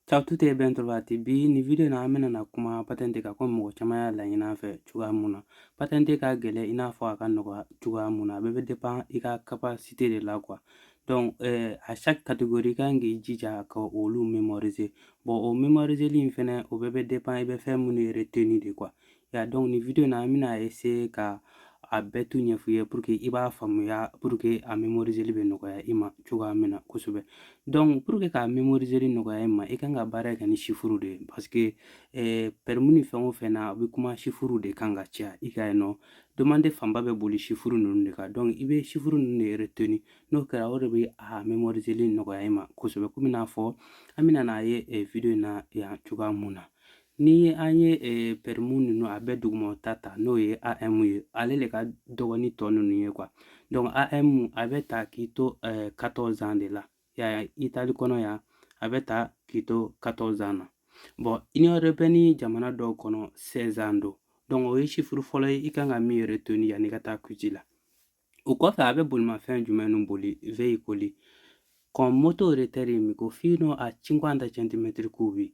Ciao a tutti e ben trovati bi nin video na an bɛna na kuma patɛnte kan ko mɔgɔ caman y'a laɲini an fɛ cogoya mun na patɛnte ka gɛlɛn i n'a fɔ a ka nɔgɔya cogoya mun na a bɛɛ bɛ dépend i ka capacité de la quoi donc euh, à chaque catégorie i kan k'i jija ka olu mémoriser bon o mémoriseli fɛnɛ o bɛɛ bɛ dépend i bɛ fɛn minnu retenir de quoi Ya donc nin video na an bɛna essayer ka a bɛɛ tout ɲɛf'i ye pour que i b'a faamuya pour que a mémoriseli bɛ nɔgɔya i ma cogoya min na kosɛbɛ donc pour que k'a mémoriseli nɔgɔya i ma i kan ka baara kɛ ni chiffre de ye parce que eh, permis ni fɛn o fɛn na a bɛ kuma chiffre de kan ka caya i ka yen nɔ demande fanba bɛ boli chiffre ninnu de kan donc i bɛ chiffre ninnu de retenir n'o kɛra o de bɛ a mémoriseli nɔgɔya i ma kosɛbɛ komi n'a fɔ an bɛna n'a ye eh, video in na yan cogoya mun na Ni an ye eh, permis ninnu a bɛɛ dugumata ta n'o ye AM ye ale de ka dɔgɔ ni tɔ ninnu ye quoi donc AM a bɛ ta k'i to eh, 14 ans de la ya ya Italie kɔnɔ yan a bɛ ta k'i to 14 ans na bon union européenne jamana dɔw kɔnɔ 16 ans don donc o ye chiffre fɔlɔ ye i kan ka min retenir yanni i ka taa quiz la o kɔfɛ a bɛ bolimafɛn jumɛn nu boli veicoli con motore termico fino a 50 centimetri cubi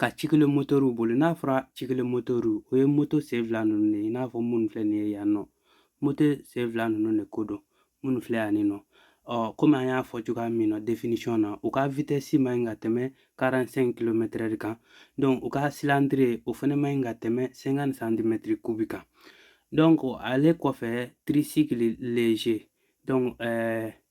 ka ciclomotoriw boli n'a fɔra ciclomotori o ye moto sen fila ninnu de ye i n'a fɔ minnu filɛ nin ye yan nɔ moto sen fila ninnu de ko don minnu filɛ yan nɔ ɔ komi an y'a fɔ cogoya min na definisiyɔn na u ka vitɛsi man ɲi ka tɛmɛ 45 kilomɛtɛrɛ kan donc u ka silandiri o fɛnɛ man ɲi ka tɛmɛ 50 santimɛtiri kubi kan donc ale kɔfɛ tricycle léger donc ɛɛ euh,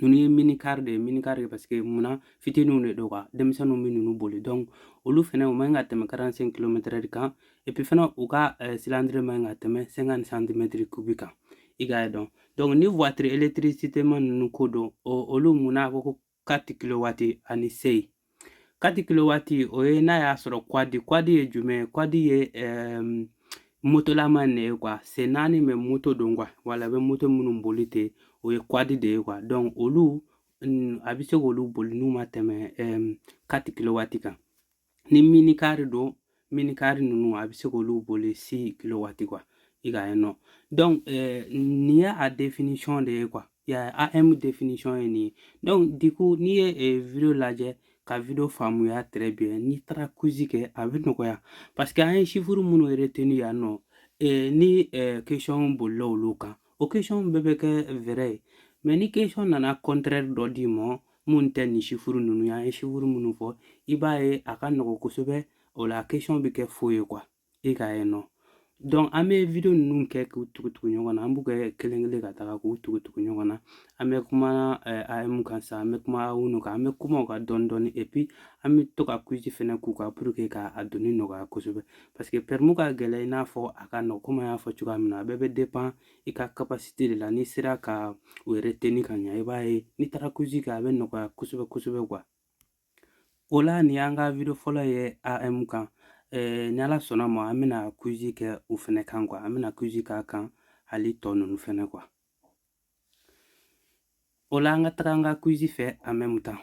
ninnu ye minikari de ye minikari ye parce que munna fitininw de don quoi denmisɛnninw bɛ ninnu boli donc olu fɛnɛ u man ka tɛmɛ karansɛnki kilomɛtɛrɛ de kan epi fɛnɛ u ka silandiri man ka tɛmɛ sɛnkanti santimɛtiri kubi kan i k'a ye dɔn donc ni watiri elekitirisitema ninnu ko don olu munna a ko ko kati kilowati ani sei Kati kilowati o ye n'a y'a sɔrɔ kwadi kwadi ye jumɛn ye kwadi ye um, motolama de ye quoi sen naani mais moto don quoi wala bɛ moto minnu boli ten o ye kwadi de ye quoi donc olu a bɛ se k'olu boli n'u ma tɛmɛ um, kati kilowati kan ni minikari don minikari ninnu a bɛ se k'olu boli si kilowati quoi i ka ye nɔ donc eh, nin ye a définition de ye quoi ya AM définition ye nin ye donc du coup n'i ye eh, video lajɛ ka video faamuya très bien n'i taara quiz kɛ a bɛ nɔgɔya parce que an ye chiffre minnu retenir yan nɔ eh, ni eh, question bolila olu kan o question bɛɛ bɛ kɛ vrai ye mais ni question nana contraire dɔ d'i ma mun tɛ nin chiffre ninnu ye an ye chiffre minnu fɔ i b'a ye a ka nɔgɔn kosɛbɛ o la question bɛ kɛ faux ye quoi e k'a ye non donc an bɛ video ninnu kɛ k'u tugutugu ɲɔgɔn na an b'u kɛ kelen kelen ka taga k'u tugutugu ɲɔgɔn na an bɛ kuma eh, AM kan sa an bɛ kuma A uno kan an bɛ kuma u kan dɔɔni dɔɔni et puis an bɛ to ka quiz fɛnɛ k'u kan pour que k'a dɔnni nɔgɔya kosɛbɛ parce que permis ka gɛlɛn i n'a fɔ a ka nɔgɔ komi an y'a fɔ cogoya min na a bɛɛ bɛ dépend i ka capacité de la n'i sera ka o retenir ka ɲa i b'a ye n'i taara quiz kɛ a bɛ nɔgɔya kosɛbɛ kosɛbɛ quoi o la nin y'an ka video fɔlɔ ye AM kan eh, ni ala sɔnna ma an bɛna quiz kɛ o fɛnɛ kan quoi an bɛna quiz k'a kan hali tɔ ninnu fɛnɛ quoi o la an ka taga an ka quiz fɛ en même temps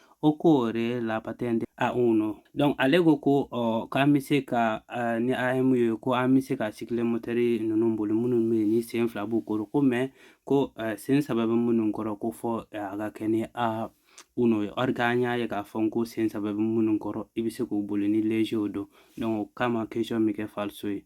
occorre la patente A uno donc ale ko ko ɔ k'an bɛ se ka uh, ni AM ye ko an bɛ se ka ciclomotori ninnu boli minnu bɛ yen ni sen fila b'u kɔrɔ ko mais ko uh, sen saba bɛ minnu kɔrɔ ko fo uh, a ka kɛ ni A uno ye or que an y'a ye k'a fɔ ko sen saba bɛ minnu kɔrɔ i bɛ se k'u boli ni léger don donc o kama question bɛ kɛ falso ye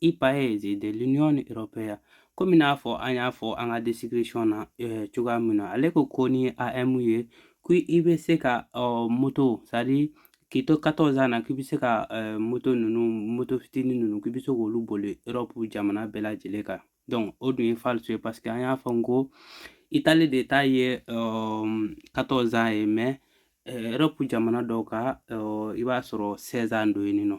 i paesi dell'Unione Europea komi n'a fɔ an y'a fɔ an ka description na eh, cogoya min na ale ko ko ni AM ye ko i bɛ se ka oh, moto c'est-à-dire k'i to 14 ans na k'i bɛ se ka eh, moto ninnu moto fitinin ninnu k'i bɛ se k'olu boli Europe jamana bɛɛ lajɛlen kan donc o dun ye falso ye parce que an y'a fɔ n ko Italie de ta ye 14 ans ye mais eh, Europe jamana dɔw ka i b'a sɔrɔ 16 ans don yen nɔ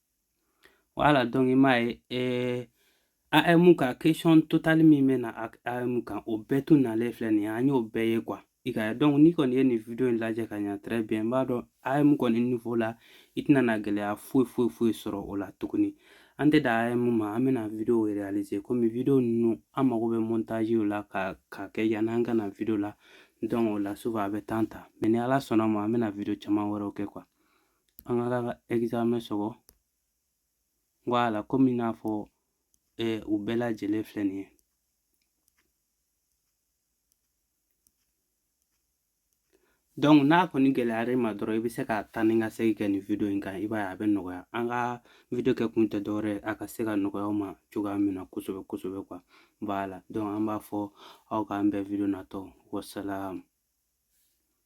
voilà donc i m'a ye eh, AM ka question total min bɛ na AM kan o bɛɛ tun nalen filɛ nin ye an y'o bɛɛ ye quoi i ka donc n'i kɔni ye nin video in lajɛ ka ɲa très bien n b'a dɔn AM kɔni niveau la i tɛna na gɛlɛya foyi foyi foyi sɔrɔ o la tuguni an tɛ dan AM ma an bɛna video réaliser komi video ninnu an mago bɛ montage la ka ka kɛ yanni an ka na video la donc o la souvent a bɛ temps ta mais ni ala sɔnna ma an bɛna video caman wɛrɛw kɛ quoi An ka taga examen sɔgɔ voilà kɔmi i n'a fɔ ɛɛ u bɛɛ lajɛlen filɛ nin ye donc n'a kɔni gɛlɛyara i ma dɔrɔn i bɛ se ka taa n'i ka segin kɛ nin video in kan i b'a ye a bɛ nɔgɔya an ka video kɛ kun tɛ dɔwɛrɛ ye a ka se ka nɔgɔya aw ma cogoya min na kosɛbɛ kosɛbɛ quoi voilà donc an b'a fɔ aw k'an bɛn video natɔ wasalamu